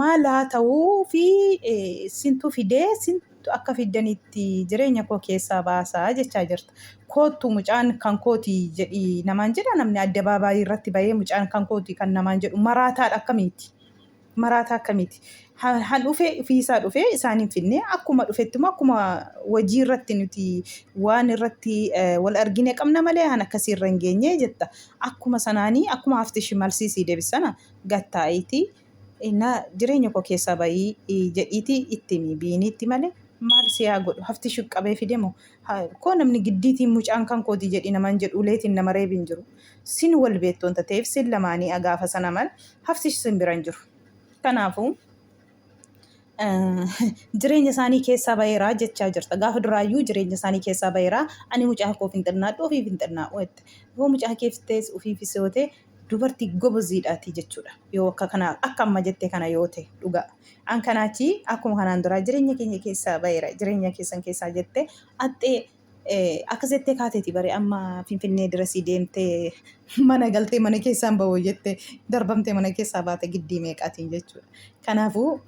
maal haa ta'uu fi sintu fidee sintu akka fiddanitti jireenya koo keessaa baasaa jechaa jirta. Koottu mucaan kan kooti jedhi namaan jedha namni adda baabaayii irratti bahee mucaan kan kooti kan namaan jedhu maraataadha akkamiiti. Maraataa akkamiiti. Han dhufee ofiisaa dhufee isaan hin finne akkuma dhufetti immoo akkuma hojii irratti nuti waan irratti wal argine qabna malee han akkasii irra hin geenye jetta. Akkuma sanaanii akkuma haftishi malsiisii deebisana. gad taa'iitii na jireenya koo keessaa bahii jedhiitii itti himi biiniitti malee maal si haa godhu hafti shuqqabee fide moo koo namni giddiitiin mucaan kan kooti jedhi naman jedhu uleetiin nama reebi hin jiru sin wal beettoon tateef sin lamaanii agaafa sana mal hafti sin bira hin jiru kanaafuu jireenya isaanii keessaa baheeraa jechaa jirta gaafa duraayyuu jireenya isaanii keessaa baheeraa ani mucaa koof hin xinnaadhu ofiif hin xinnaa'u jette yoo mucaa keef tees ofiifis yoo ta'e dubartii goboziidhaati jechuudha. Yoo akka kana akka amma jette kana yoo ta'e dhugaa. An kanaachi akkuma kanaan duraa jireenya keenya keessaa ba'eera. Jireenya keessan keessaa jette axxee eh, akkas jettee kaateeti bare amma finfinnee dirasii deemtee mana galtee mana keessaan ba'uu jette darbamtee mana keessaa baate giddii meeqaatiin jechuudha. Kanaafuu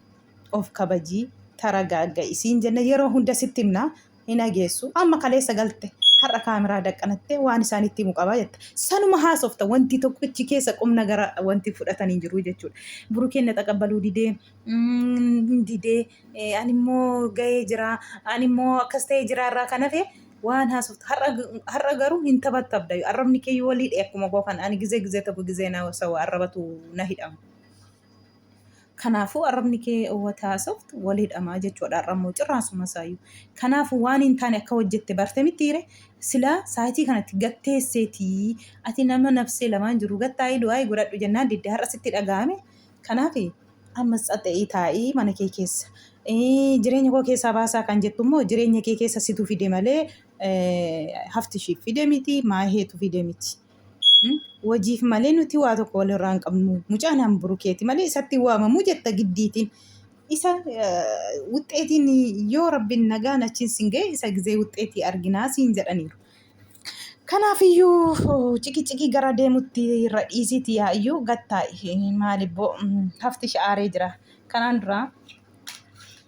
of kabajii taragaagga isiin jenna yeroo hunda sitti himna hin ageessu amma kaleessa galte har'a kaameraa daqqanattee waan isaanitti himu qabaa jetta sanuma haasofta wanti tokko ichi keessa qumna gara wanti fudhatan hin jiru jechuudha burukeen na xaqabbaluu didee mm, didee eh, ani immoo ga'ee jira ani immoo akkas ta'ee jira irraa kan hafe waan haasoftu har'a har'a garuu hin taphattabda arrabni kee yoo walii dhee akkuma koo kan ani gizee gizee tokko gizee na sawa arrabatu na hidhama Kanaafuu arrabni kee wata haasoftu walii dhamaa jechuudha arrammoo cirraasuma isaayyuu. Kanaafuu waan hin taane akka hojjette barte mitiire silaa saayitii kanatti gatteesseetii ati nama nafsee lamaan jiru gattaa'i du'aa'i godhadhu jennaan didde har'a sitti dhaga'ame. Kanaaf ammas xaxa'ii taa'i mana kee keessa. Eh, Jireenya koo keessaa baasaa kan jettu immoo jireenya kee keessa situ fide malee eh, hafti ishiif fide miti maaheetu fide miti. Wajiif malee nuti waa tokko walirraa hin qabnu. Mucaan an burukeeti malee isatti waamamu jetta giddiitiin. Isa wuxxeetiin yoo rabbiin nagaan achiin sin ga'e isa gizee wuxxeetii arginaa siin jedhaniiru. Kanaafiyyuu ciqiciqii gara deemutti irra dhiisiiti yaa'iyyuu gattaa'i maalibboo hafti sha'aaree jira. Kanaan duraa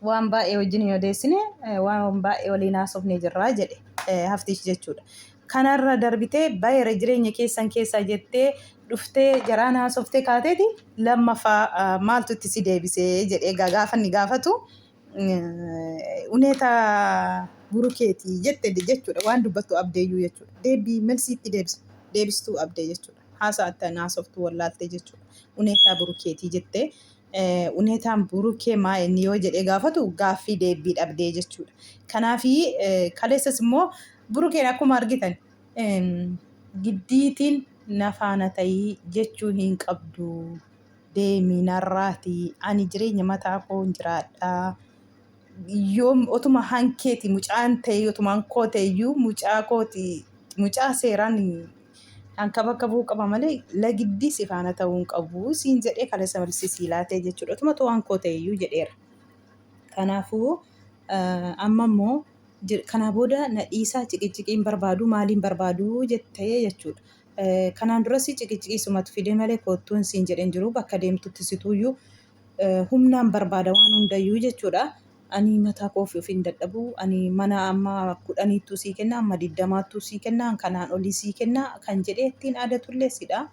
waan baay'ee wajjin hin odeessine waan baay'ee waliin haasofne jirraa jedhe haftiish jechuudha. Kanarra darbitee baay'eera jireenya keessan keessaa jettee dhuftee jaraan haasoftee kaateeti lammaffaa maaltu itti si deebisee jedhee gaafanni gaafatu uneeta burukeeti jette jechuudha waan dubbattu abdeeyyuu jechuudha deebii melsiitti deebisu deebistuu abdee jechuudha haasaa attan haasoftuu wallaaltee jechuudha uneetaa burukeetii jettee uneetaan burukee maa inni yoo jedhee gaafatu gaaffii deebbii dhabdee jechuudha. Kanaaf kaleessas immoo burukeen akkuma argitan giddiitiin nafaana ta'ii jechuu hin qabdu deemii narraatii ani jireenya mataa koon jiraadhaa. yoo otuma hankeeti mucaan ta'e otumaan koo ta'e iyyuu mucaa kooti mucaa seeraan hanka bakka bu'uu qaba malee lagiddii si faana ta'uu hin qabu siin jedhee kaleessa malsii sii laatee jechuudha otuma ta'uu hankoo ta'e iyyuu jedheera. Kanaafuu amma immoo kanaa booda na dhiisaa ciqiciqii hin barbaadu maaliin barbaadu jettee jechuudha. Kanaan duras ciqiciqii sumatu fidee malee koottuun siin jedheen jiru bakka deemtutti situuyyuu humnaan barbaada waan hundayyuu jechuudha. Ani mataa koo ofii ofiin dadhabu. Ani mana amma kudhaniittuu sii kenna, amma digdamaattuu sii kenna, kanaan olii sii kenna kan jedhee ittiin aadatullee sidha.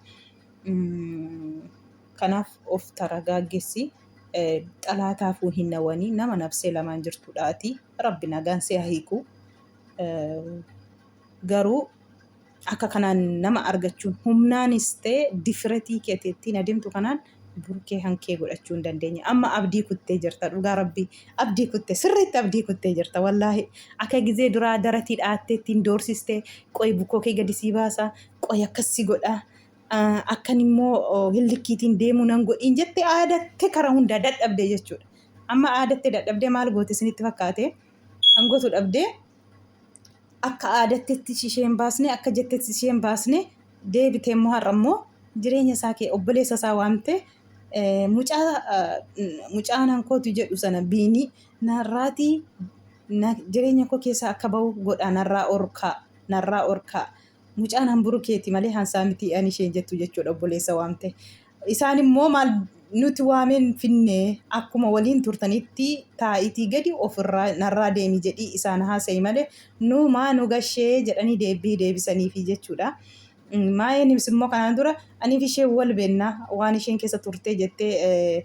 Kanaaf of taragaaggessi. Xalaataafuu hin nawanii nama nabsee lamaan jirtudha ati. Rabbi nagaan si haa hiiku. Garuu Akka kanaan nama argachuun humnaanis ta'e difiretii keeti ittiin adeemtu kanaan burkee hankee godhachuu hin dandeenye. Amma abdii kuttee jirta dhugaa rabbii abdii kutte sirriitti abdii kuttee jirta wallaahi akka gizee duraa daratii dhaattee ittiin doorsiste qoy bukkoo kee gadi sii baasa qoy akkas si godha akkan immoo hillikkiitiin deemuu nan godhiin jette aadatte kara hundaa dadhabde jechuudha. Amma aadatte dadhabdee maal goote isinitti fakkaate kan gootu dhabdee akka aadattetti isheen baasne akka jettetti isheen baasne deebite immoo har'a immoo jireenya isaa kee obboleessa isaa waamte mucaa mucaa nankootu jedhu sana biinii narraatii jireenya koo keessaa akka ba'u godhaa narraa orkaa narraa orkaa mucaan hanburu keeti malee hansaa mitii ani isheen jettu jechuudha obboleessa waamte. Isaan immoo maal nuti waameen finne akkuma waliin turtanitti taa'itii gadi ofirraa narraa deemi jedhii isaan haasa'i malee nu maa nu gashee jedhanii deebii deebisaniifi jechuudha. Maayeenis immoo kanaan dura aniif ishee wal beenna waan isheen keessa turtee jettee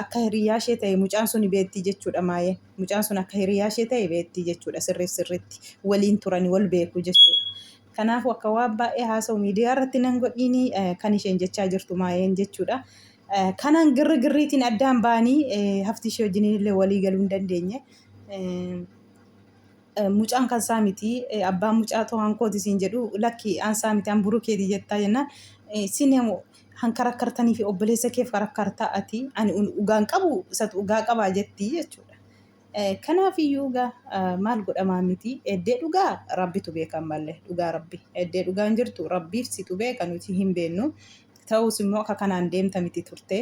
akka hiriyaa ishee ta'e mucaan sun beetti jechuudha maayeen. Mucaan sun akka hiriyaa ishee ta'e beetti jechuudha sirriif sirriitti waliin turani wal beeku jechuudha. Kanaafuu akka waan baay'ee haasa'u miidiyaa irratti nan godhiini kan isheen jechaa jirtu maayeen jechuudha. Kanaan girri girriitiin addaan ba'anii hafti ishee wajjin illee walii galuu hin dandeenye. Mucaan kan isaa miti abbaan mucaa too hankooti siin jedhu lakki an isaa miti an burukeeti jettaa jennaan isin han karakkartanii fi obboleessa keef karakkartaa ati ani dhugaan qabu isatu dhugaa qabaa jettii jechuudha. Kanaafiyyuu gaa maal godhamaa miti eddee dhugaa rabbitu beekan malle dhugaa rabbi eddee dhugaan jirtu rabbiif situ beeka nuti hin beennu ta'us immoo akka kanaan deemta miti turte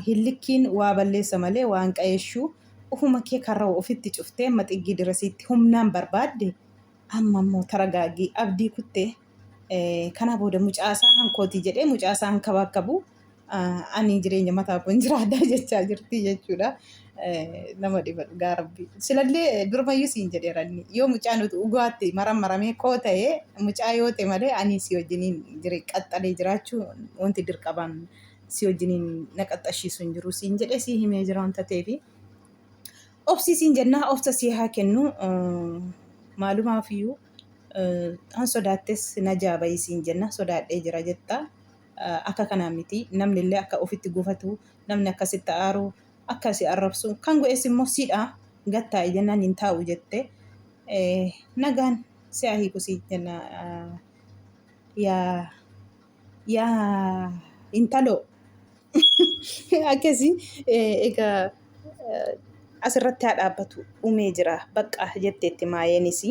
hillikkiin waa balleessa malee waan qayeeshuu ufuma kee karra ofitti cuftee amma xiggii dirasiitti humnaan barbaadde amma immoo taragaaggii abdii kuttee Kanaa booda mucaasaa hankooti jedhee mucaasaa hankabaakkabu ani jireenya mataa kun jiraadha jechaa jirti jechuudha. Nama dhiba dhugaa rabbi. Silallee durmayyuu siin jedheera inni yoo mucaan dhugaatti maram maramee koo ta'ee mucaa yoo ta'e malee ani si wajjiniin jire qaxxalee jiraachuu wanti dirqabaan si wajjiniin na qaxxashiisu hin jiru siin jedhee si himee jira wanta ta'eefi. Obsii siin jennaa obsa si haa kennu maalumaaf iyyuu. Kan sodaattes najaa bahi siin jenna sodaadhee jira jetta. Akka kanaa miti namni illee akka ofitti gufatu namni akka sitti aaru akka si arrabsu kan go'es immoo siidha gad taa'i jennaan hin taa'u jette. Nagaan si'a hiiku siin jenna yaa Yaa intaloo akkasii egaa asirratti haa dhaabbatu dhumee jira baqqa jetteetti maayeenis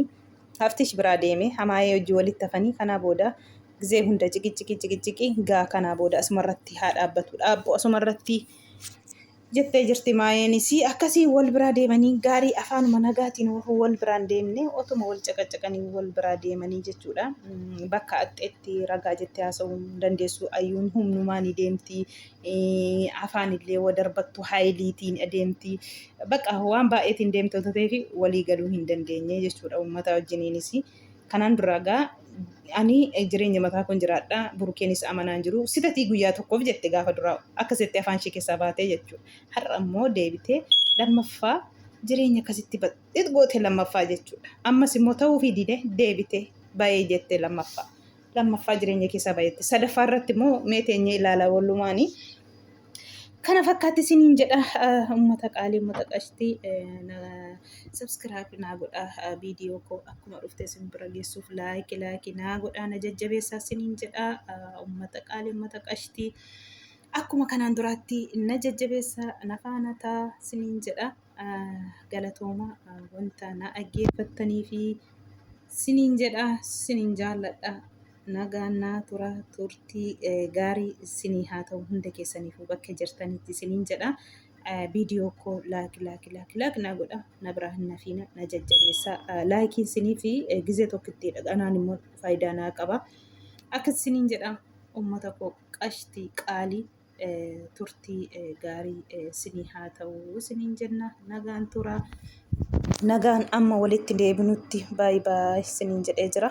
haftish biraa deeme hamaayee hojii walitti hafanii kanaa booda gizee hunda ciqiciqii ciqiciqii gaa kanaa booda asumarratti haa dhaabbatu dhaabbu asumarratti jettee jirti maayeenis akkasiin wal biraa deemanii gaarii afaanuma nagaatiin wal biraan deemne otuma wal caqacaqanii wal biraa deemanii jechuudha bakka axxeetti ragaa jettee haasa'uu dandeessu ayyuun humnumaan deemti afaan illee wadarbattu haayiliitiin deemti bakka waan baay'eetiin deemte tateefi walii galuu hin dandeenye jechuudha ummata wajjiniinis Kanaan duraa gaa ani jireenya mataa koon jiraadha burukeenis amanaan jiru sitatii guyyaa tokkoof jette gaafa duraa akka setti afaan ishee keessaa baatee jechuu har'a immoo deebitee lammaffaa jireenya akkasitti badhit goote lammaffaa jechuudha ammas immoo ta'uu fi dide deebite bayee jette lammaffaa lammaffaa jireenya keessaa bayetti sadaffaa irratti immoo mee teenyee ilaala wallumaanii Kana fakkaatti isiniin jedha uummata qaalii uummata qashtii sabskiraayib naa godha viidiyoo koo akkuma dhufte isin bira geessuuf laayiki laayiki naa godha na jajjabeessaa isiniin jedha uummata qaalii uummata qashtii akkuma kanaan duraatti na jajjabeessaa na faana taa isiniin jedha. galatooma wanta na dhaggeeffattanii fi siniin jedha siniin jaalladha nagaan naa tura turtii gaarii sinii haa ta'u hunda keessaniifuu bakka jirtanitti siniin jedha viidiyoo koo laaki laaki laaki laaki naa godha na biraa hin nafiina na jajjabeessa laakii sinii fi gizee tokkitti dhaqanaan immoo faayidaa naa qaba akka siniin jedha ummata koo qashtii qaalii turtii gaarii sinii haa ta'uu siniin jenna nagaan tura nagaan amma walitti deebinutti baay baay siniin jedhee jira.